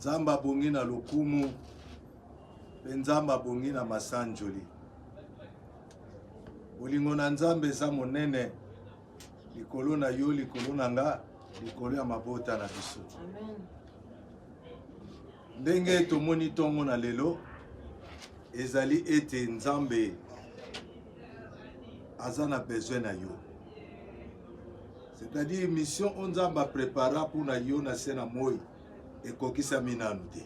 nzambe abongi na lokumu mpe nzambe abongi na masanjoli bolingo na nzambe eza monene likolo na yo likolo na nga likolo ya mabota na biso ndenge tomoni ntongo na lelo ezali ete nzambe aza na besoin na yo c'est-à-dire mission oyo nzambe aprepara mpo na yo na se na moi ekokisami nanu te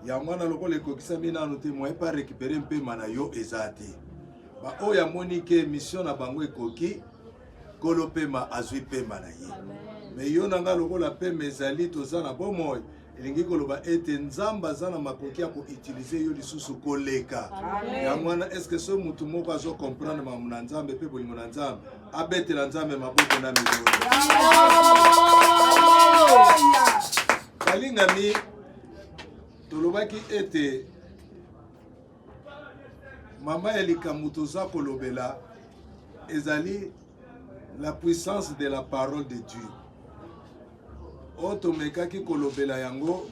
yango wana lokola ekokisami nanu te moye pa récupere mpema na yo eza te baoyo amoni ke mission na bango ekoki kolo mpema azwi mpema na ye me yo na ngai lokola mpema ezali toza na bomoi elingi koloba ete nzambe aza na makoki ya koutilize yo lisusu koleka yango wana estce soki motu moko azo comprendre makambo na nzambe mpe bolingo na nzambe abetela nzambe maboko na milolo balingami tolobaki ete mama ya likambo toza kolobela ezali la puissance de la parole de dieu oyo tomekaki kolobela yango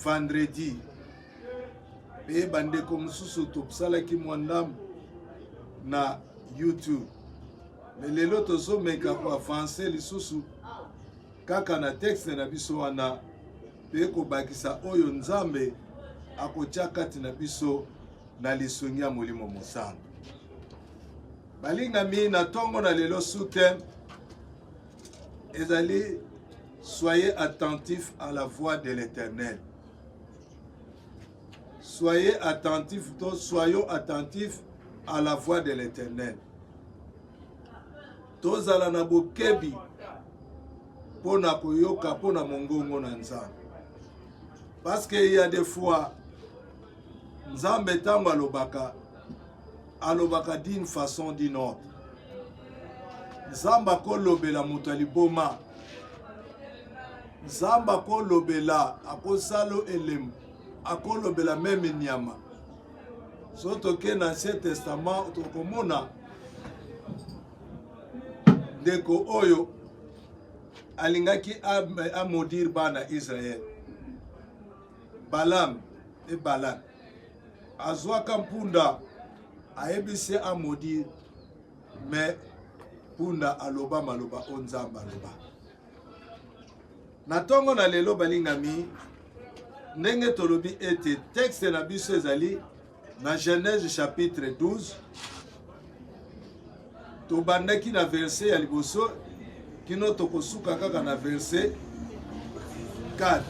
vendredi mpe bandeko mosusu tosalaki mwa ndambo na youtube me lelo tozomeka koavanse lisusu kaka na texte na biso wana mpe kobakisa oyo Nzambe akotya kati na biso na lisungi ya Molimo Mosantu. Balingami na ntongo na lelo sute ezali soyez attentif à la voix de l'Éternel. Soyez attentif, soyons attentifs à la voix de l'Éternel. Tozala na bokebi mpo na koyoka mpo na mongongo na Nzambe. Parce que il y a des fois Nzambe ntango alobaka alobaka d'une façon d'une autre. Nzambe akolobela moto ya liboma. Nzambe akolobela akosala elembo akolobela meme nyama soki toke na ancien testament tokomona ndeko oyo alingaki amodire bana israel balam e balak azwaka mpunda ayebisi amodire me mpunda aloba maloba o nzambe aloba Na ntongo na lelo, balingami, ndenge tolobi ete texte na biso ezali na Genèse chapitre 12 tobandaki na verse ya liboso kino tokosuka kaka na verse 4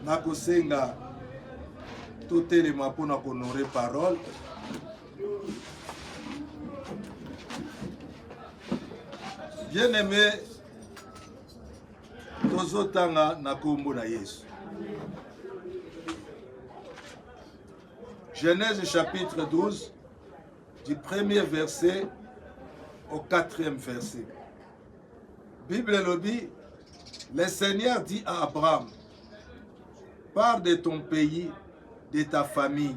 nakosenga totelema mpo na konore parole bien aimé tozotanga na kombo na yesu genèse chapitre 12 du premier verset au quatrième verset bible elobi le seigneur dit à abraham pars de ton pays de ta famille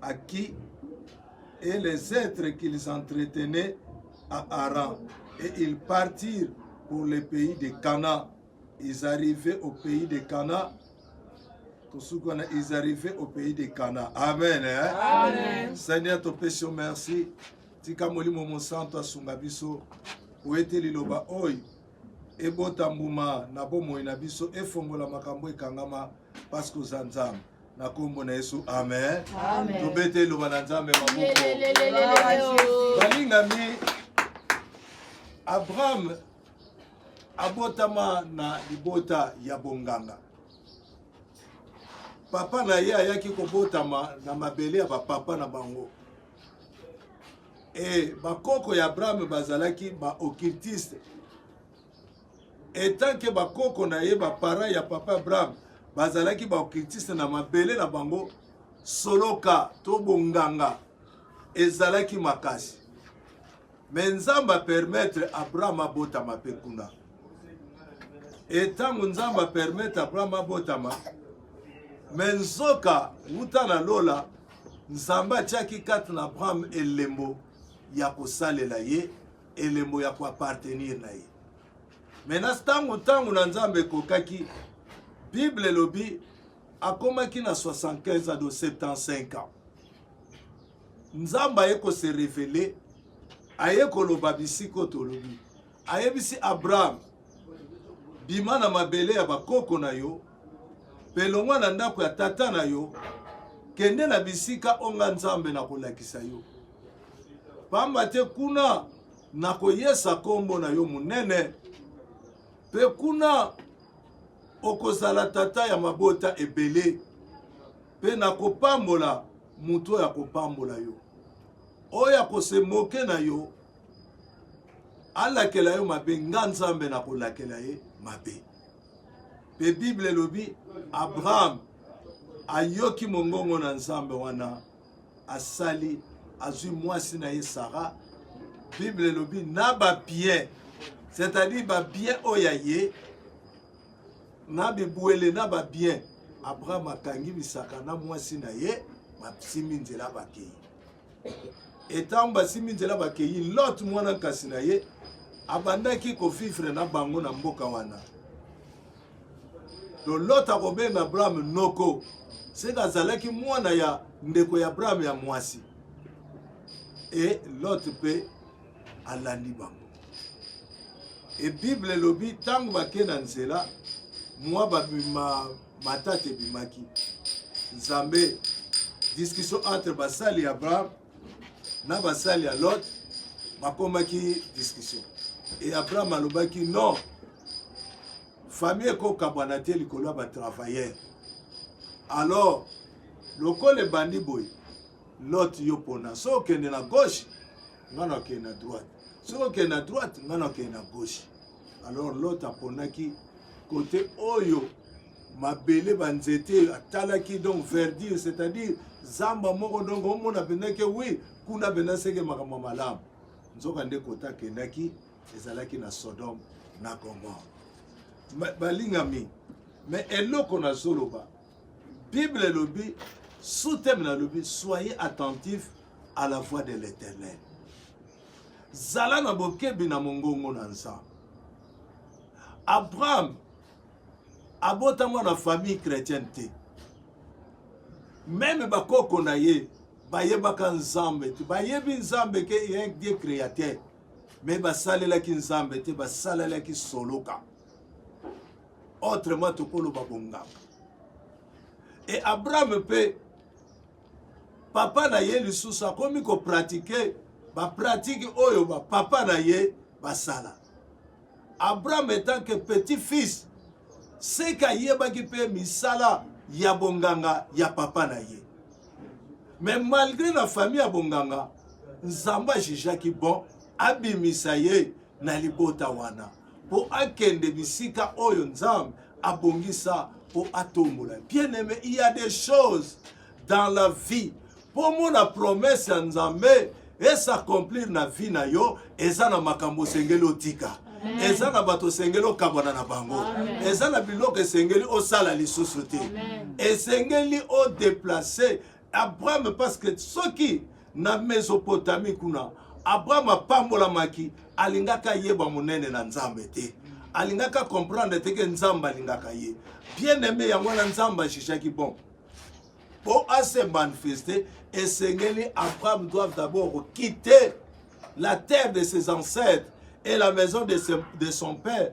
à qui et les êtres qu'ils entretenaient à Haran. Et ils partirent pour le pays de Cana. Ils arrivaient au pays de Cana. Ils arrivaient au pays de Cana. Amen. Hein? Amen. Seigneur, te péché, merci. Tika molimo mosanto asunga biso oyete liloba oyo ebota mbuma na bomoi na biso efongola makambo ekangama parce que oza nzambe na kombo na yesu amen, amen. tobete eloba na nzambe maboko balingami abraham abotama na libota ya bonganga papa na ye ayaki kobotama na mabele ya bapapa na bango e bakoko ya abraham bazalaki baokiltiste Etant que ba koko na ye ba parents ya papa Abraham bazalaki ba occultiste na mabele na bango, soloka to bonganga ezalaki makasi. Mais Nzambe a permettre Abraham abotama pe kuna. E ntango Nzambe a permettre Abraham abotama, me nzoka wuta na lola Nzambe atiaki kati na Abraham elembo ya kosalela ye elembo ya koappartenir na ye maintenant ntango ntango na nzambe ekokaki bible elobi akomaki na 75 ado 75 ans nzambe aye kose revele aye koloba bisiko tolobi ayebisi abraham Bima na mabele ya bakoko na yo mpe longwa na ndako ya tata na yo, kende na bisika oyo nga Nzambe nakolakisa yo, pamba te kuna nakoyesa nkombo na yo monene, mpe kuna okozala tata ya mabota ebele, mpe nakopambola moto oyo akopambola yo, oyo akose moke na yo alakela yo mabe nga nzambe nakolakela ye mabe mpe bible elobi abraham ayoki mongongo na nzambe wana asali azwi mwasi na ye sara bible elobi na babien c'est-à-dire babien oyo ya ye na bibwele na babien abraham akangi bisaka na mwasi na ye basimbi nzela bakei etango basimbi nzela bakei lot mwana nkasi na ye abandaki kovivre na bango na mboka wana to lot akobenga abrahame noko seke azalaki mwana ya ndeko ya abrahame ya mwasi e lot mpe alandi bango e bible elobi ntango bake na nzela mwa babima matata ebimaki nzambe discussion entre basali ya abraham na basali ya lot bakomaki discussion e abraham alobaki non famille ekokabwana te likolo ya batravailleur alors lokola ebandi boye lot yo pona soki okende na gauche ngai nakende na droite soki okende na droite ngai nakende na gauche alors lot aponaki kote oyo mabele banzete atalaki donc verdure c'est-à-dire zamba moko donc omona mpenza ke wi kuna mpenza seke makambo malamu nzoka nde kota akendaki ezalaki na sodome na gomore balingami me eloko nazoloba bible elobi sous teme nalobi soyez attentif à la voix de l'éternel zala na bokebi na mongongo na nzambe abraham abotama na famille chrétienne te meme bakoko na ye bayebaka nzambe te bayebi nzambe ke ye die créateur me basalelaki nzambe te basalelaki soloka autrement tokoloba bonganga e abraham mpe papa na ye lisusu akomi kopratike bapratike oyo bapapa na ye basala abraham etant que petit fils seke ayebaki mpe misala ya bonganga ya papa na ye mais malgré na famille ya bonganga nzambe ajijaki bon abimisa ye na libota wana mpo akende bisika oyo Nzambe abongisa mpo atombola. Bien aimé, il y a des choses dans la vie mpo omona promesse ya Nzambe esakomplir na vie na yo, eza na makambo osengeli otika eza na bato osengeli okabwana na bango eza na biloko esengeli osala lisusu te esengeli odeplace Abraham parce que soki na Mesopotamie kuna Abraham apambolamaki alingaka ayeba monene na Nzambe te alingaka comprendre te ke Nzambe alingaka ye bien aime yango wana Nzambe ajijaki bon mpo ase manifeste esengeli Abraham doit d'abord quitter la terre de ses ancêtres et la maison de, ses, de son père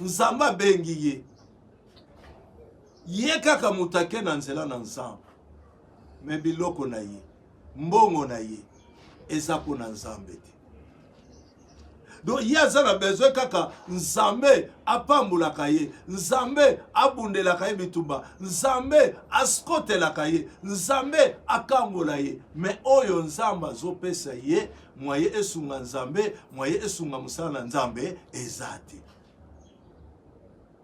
nzambe abengi ye ye kaka moto ake na nzela na nzambe me biloko na ye mbongo na ye eza mpo na nzambe te donc ye aza na besoin kaka nzambe apambolaka ye nzambe abundelaka ye bitumba nzambe askotelaka ye nzambe akangola ye me oyo nzambe azopesa ye mwaye esunga nzambe mwaye esunga mosala na nzambe eza te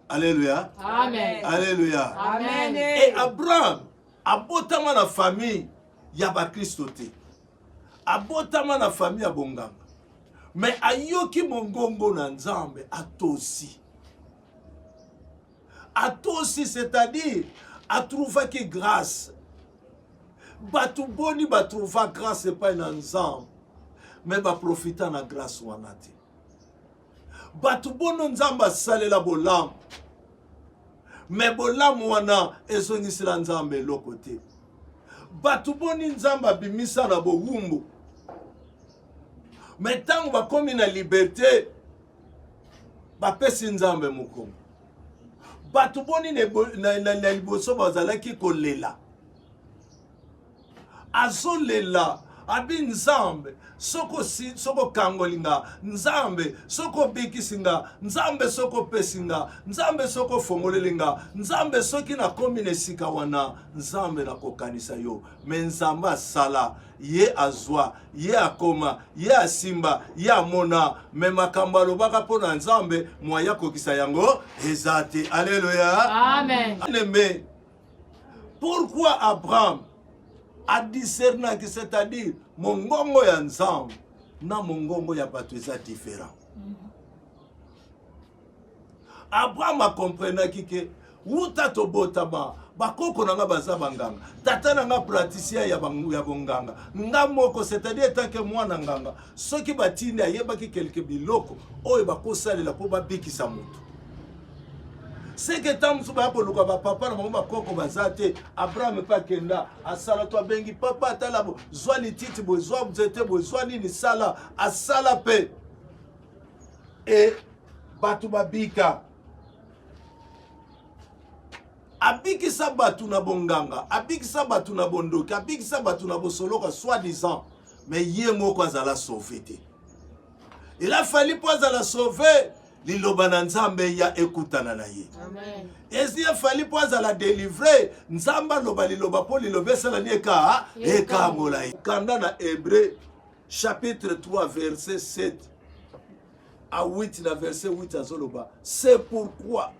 Alléluia. Amen. Alléluia. Amen. Et Abraham abotama na famille ya bakristo te abotama na famille ya bonganga me ayoki mongongo na nzambe atosi Atosi c'est-à-dire a trouvaki grace. Bato boni ba trouva grace epai na Nzambe me ba profita na grace wana te. Bato bono Nzambe asalela bolamu me bolamu wana ezongisela Nzambe eloko te. Bato boni Nzambe abimisa na bowumbu me ntango bakomi na liberte bapesi nzambe mokongo bato boni na liboso bazalaki kolela azolela abi nzambe soko si soko kangoli nga nzambe soko obikisi nga nzambe soko opesi nga nzambe soko ofongoleli nga nzambe soki nakomi na esika wana nzambe nakokanisa yo me nzambe asala ye azwa ye akoma ye asimba ye amona me makambo alobaka mpo na nzambe mwaye akokisa yango eza te aleluya amen pourquoi abraham adiscernaki c'est-à-dire mongongo ya nzambe na mongongo ya bato eza différent abraham akomprenaki ke wuta tobotama bakoko na nga baza banganga tata na nga praticien ya, ya bonganga nga moko c'est-à-dire etanke mwana nganga soki batindi ayebaki kelke biloko oyo bakosalela mpo babikisa moto seke ntango mosusu baya koluka bapapa na bango bakoko baza te abraham epe akenda asala to abengi papa atala zwa lititi boye zwa nzete boye zwa nini sala asala mpe e bato babika abikisa bato na bonganga abikisa bato na bondoki abikisa bato na bosoloka soit disant me ye moko azala sauve te ela fali mpo azala sauve liloba na nzambe ya ekutana na ye esi efali mpo azala delivre nzambe aloba liloba mpo liloba esalani eka ekangola ye kanda na hebreu chapitre 3 verset 7 à 8 na verset 8 azoloba c'est pourquoi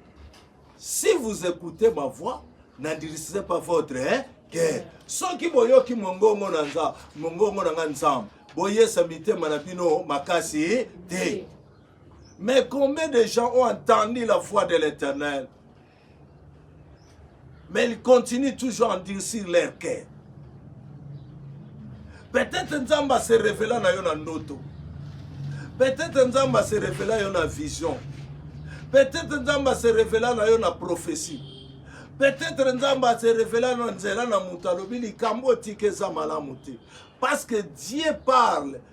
si vous écoutez ma voix n'endurisez pas votre hein, cœur soki boyoki mongongo na nza mongongo na nga nzambe boyesa mitema na bino makasi te mais combien de gens ont entendu la voix de l'éternel Mais ils continuent toujours à endurcir leur cœur. Peut-être Nzamba se révéla na yo na ndoto. Peut-être Nzamba se révéla yo na vision. Peut-être Nzamba se révéla na yo na prophétie. Peut-être Nzamba se révéla na nzela na moto alobi likambo otika eza malamu te. Parce que Dieu parle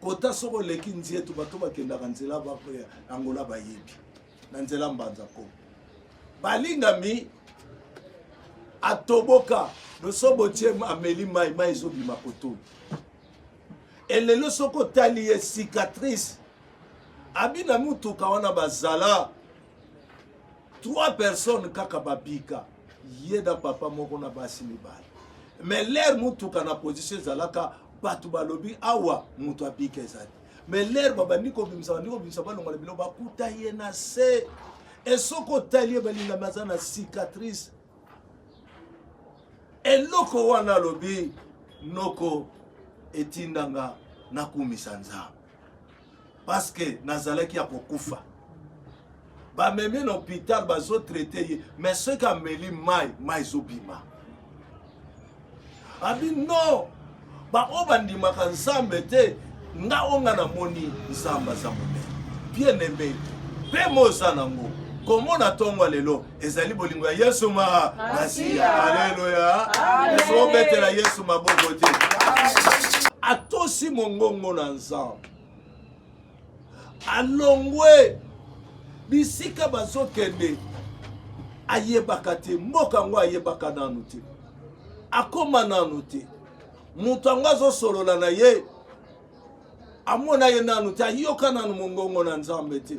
kota soko oleki nzietu bato bakendaka nzela ya angola bayebi na nzela mbanza ko balingami atoboka losobo tie ameli mai mai ezobima kotoyo elelo soki otali ye cicatrice abina motuka wana bazala Trois personnes kaka babika ye na papa moko na basi mibale mais lere motuka na position ezalaka bato balobi awa moto abika ezali mais lere babandi kobimisa bandi kobimisa balonga na bilo bakuta ye na se esoki otali ye balingami aza na cicatrice eloko wana alobi noko etindanga nakumisa nzambe paske nazalaki ya kokufa bamemi na hopital bazotraite ye mais soki ameli mai mai ezobima abi no baoyo bandimaka nzambe te nga oyo nga namoni nzambe aza monene bien aime mpe moza nango komona ntongo lelo ezali bolingo ya yesu ma masiya aleluya ezobetela yesu maboko te atosi mongongo na nzambe alongwe bisika bazokende ayebaka te mboka yango ayebaka nanu te akoma nanu te moto yango azosolola na ye amona ye nanu te ayoka nanu mongongo na nzambe te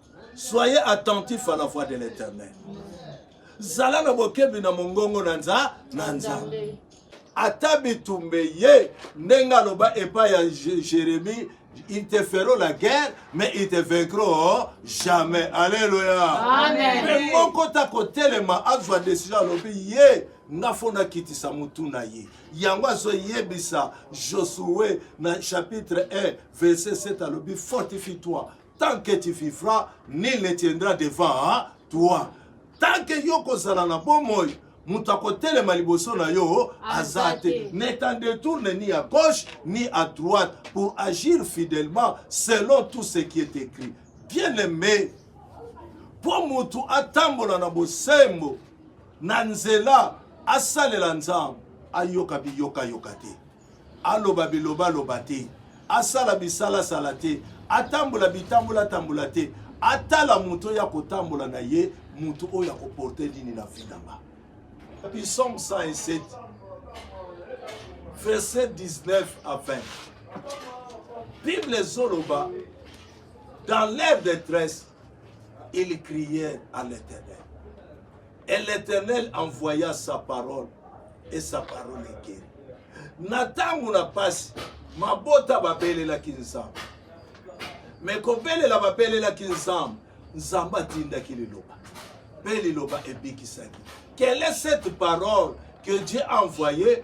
soyez attentif à la voix de l'éternel zala na bokebi na mongongo na nza na nzambe ata bitumba eye ndenge aloba epai ya jérémie ils te feront la guerre, mais ils te vaincront jamais. Alléluia. Amen. Mais mon côté à côté, les ma azwa décision à l'obé, yé, nga fona kiti sa mutuna yé. Yango azwa yé bisa, Josué, na chapitre 1, verset 7 à l'obé, fortifie-toi. tant que tu vivras nul ne tiendra devant toi tant que yo kozala na bomoi moto akotelema liboso na yo aza te ne t'en détourne ni à gauche ni à droite pour agir fidèlement selon tout ce qui est écrit bien aimé mpo moto atambola na bosembo na nzela asalela nzambe ayoka biyokayoka te Aloba bilobaloba te. Asala bisalasala te. Atambola bitambolatambola te. Atala moto oyo akotambola na ye, moto oyo akoporte nini na vie na nga. Psalm 107, verset 19 à 20. Bible ezoloba dans leur détresse, ils crièrent à l'Éternel. Et l'Éternel envoya sa parole, et sa parole est guérie. Na ntango na mpasi, mabota babelelaki Nzambe. Me kobelela babelelaki Nzambe, Nzambe atindaki liloba, mpe liloba ebikisaki. Quelle est cette parole que Dieu a envoyée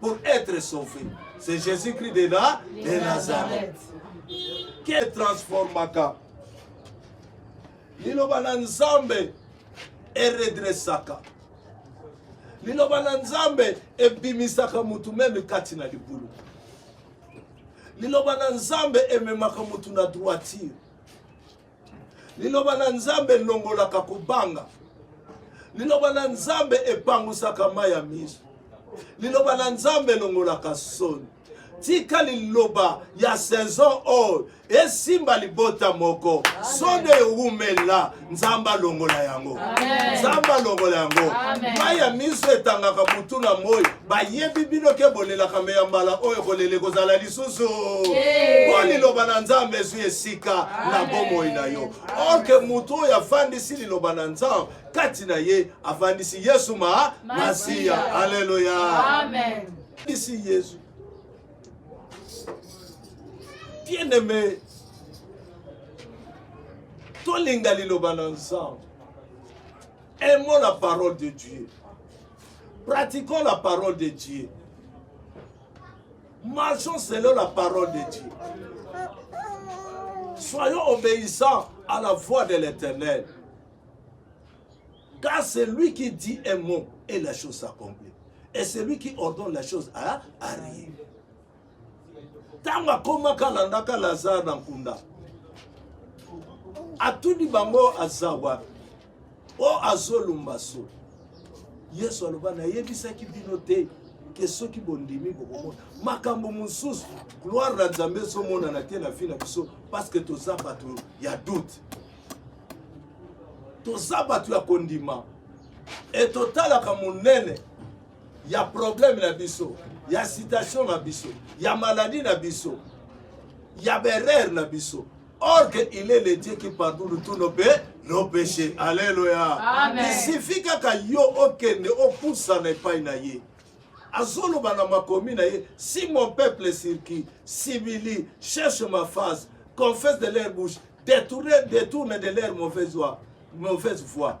pour être sauvé. C'est Jésus-Christ de, la, de Nazareth. Quel transformaka liloba na nzambe eredresaka liloba na nzambe ebimisaka motu meme kati na libulu liloba na nzambe ememaka motu na droitire Liloba na Nzambe elongolaka kobanga. Liloba na Nzambe epangusaka mai ya miso. Liloba na Nzambe elongolaka soni. tika liloba ya saison oyo esimba libota moko soni ewumela nzambe alongola yango nzambe alongola yango mai ya miso etangaka butu na moi bayebi bino ke bolelaka me ya mbala oyo kolela ekozala lisusu mpo liloba na nzambe ezwi esika na bomoi na yo orke moto oyo afandisi liloba na nzambe kati na ye afandisi yesu ma masiya aleluya afandisi yesu bien aime tolinga liloba na nzambe aimons la parole de dieu pratiquons la parole de dieu Marchons selon la parole de Dieu. Soyons obéissants à la voix de l'Éternel. Car c'est lui qui dit un mot et la chose s'accomplit. Et celui qui ordonne la chose à arrive. ntango akomaka alandaka lazare na nkunda atuni bango aza wapi o oh, azolumba so yesu aloba nayebisaki bino te ke soki bondimi bokomona makambo mosusu gloire na nzambe ezomonana te na vi na biso parceke toza bato ya doute toza bato ya kondima e totalaka monene ya probleme na biso ya citation na biso ya maladi na biso ya berere na biso Or que il est le Dieu qui pardonne tous nos péchés, nos péchés. Alléluia. Amen. Il suffit kaka yo okende opusana epai na ye. Azoloba na makomi na ye, si mon peuple circuit, s'humilie, cherche ma face, confesse de leur bouche, détourne, détourne de leur mauvaise voie, mauvaise voie.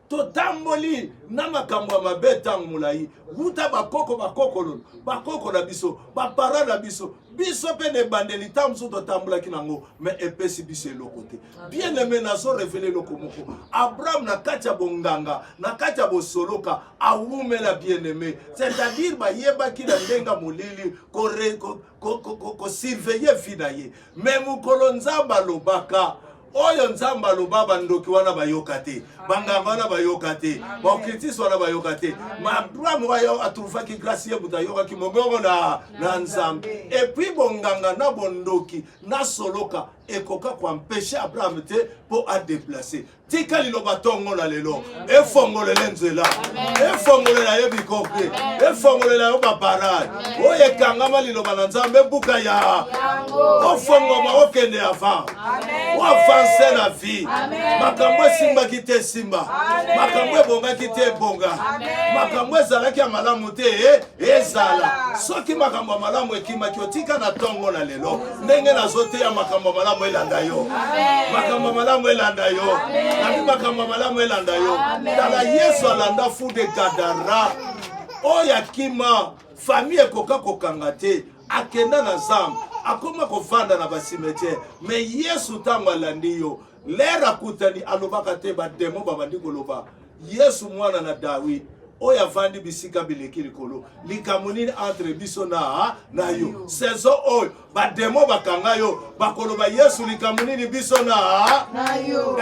totamboli na makambo ya mabe ntango molai wuta bakoko bakokolo bakoko na biso bapara na biso biso mpe na ebandeli ntango mosusu totambolaki na yango me epesi biso eloko te bien aime nazo revele eloko moko abraham na kati ya bonganga na kati ya bosoloka awumela bien aime c'est-à-dire bayebaki na ndenge molili kosurveille ko, ko, ko vi na ye me mokolo nzambe alobaka oyo nzambe aloba bandoki wana bayoka te banganga wana bayoka te baokritisi wana bayoka te maabraham oyo atruvaki grasi ye moto ayokaki mongongo na, na nzambe epui bonganga na bondoki na soloka ekoka koampeshe abraham te mpo adeplace tika liloba ntongo na lelo efongolele nzela efongolela ye bikoki efongolela yo babarage oyo ekangama liloba na nzambe ebuka ya ofongoma okende avant oavanse na vie makambo esimbaki te esimba makambo ebongaki te ebonga makambo ezalaki ya malamu te eh, ezala soki makambo ya malamu ekimaki otika na ntongo na lelo ndenge nazoteya makambo ya malamu elanda yo makambo ya malamu elanda yo nabi makambo ya malamu elanda yo tala yesu alanda fude gadara oyo akima fami ekoka kokanga te akenda na zamba akoma kovanda na basimetiere me yesu ntango alandi yo Lere akutani alobaka te bademo babandi koloba Yesu mwana na Dawid oyo avandi bisika bileki likolo likambo nini entre biso na na yo sezo oyo bademo bakanga yo bakoloba yesu likambo nini biso na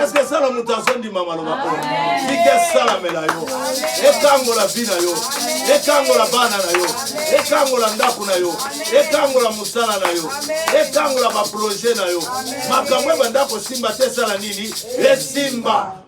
eske esala moto azondima maloba oyo sika esalamela yo ekangola vi na yo ekangola bana na yo ekangola ndako na yo ekangola sala na yo ekangola baproje na yo makambo ebanda kosimba te esala nini esimba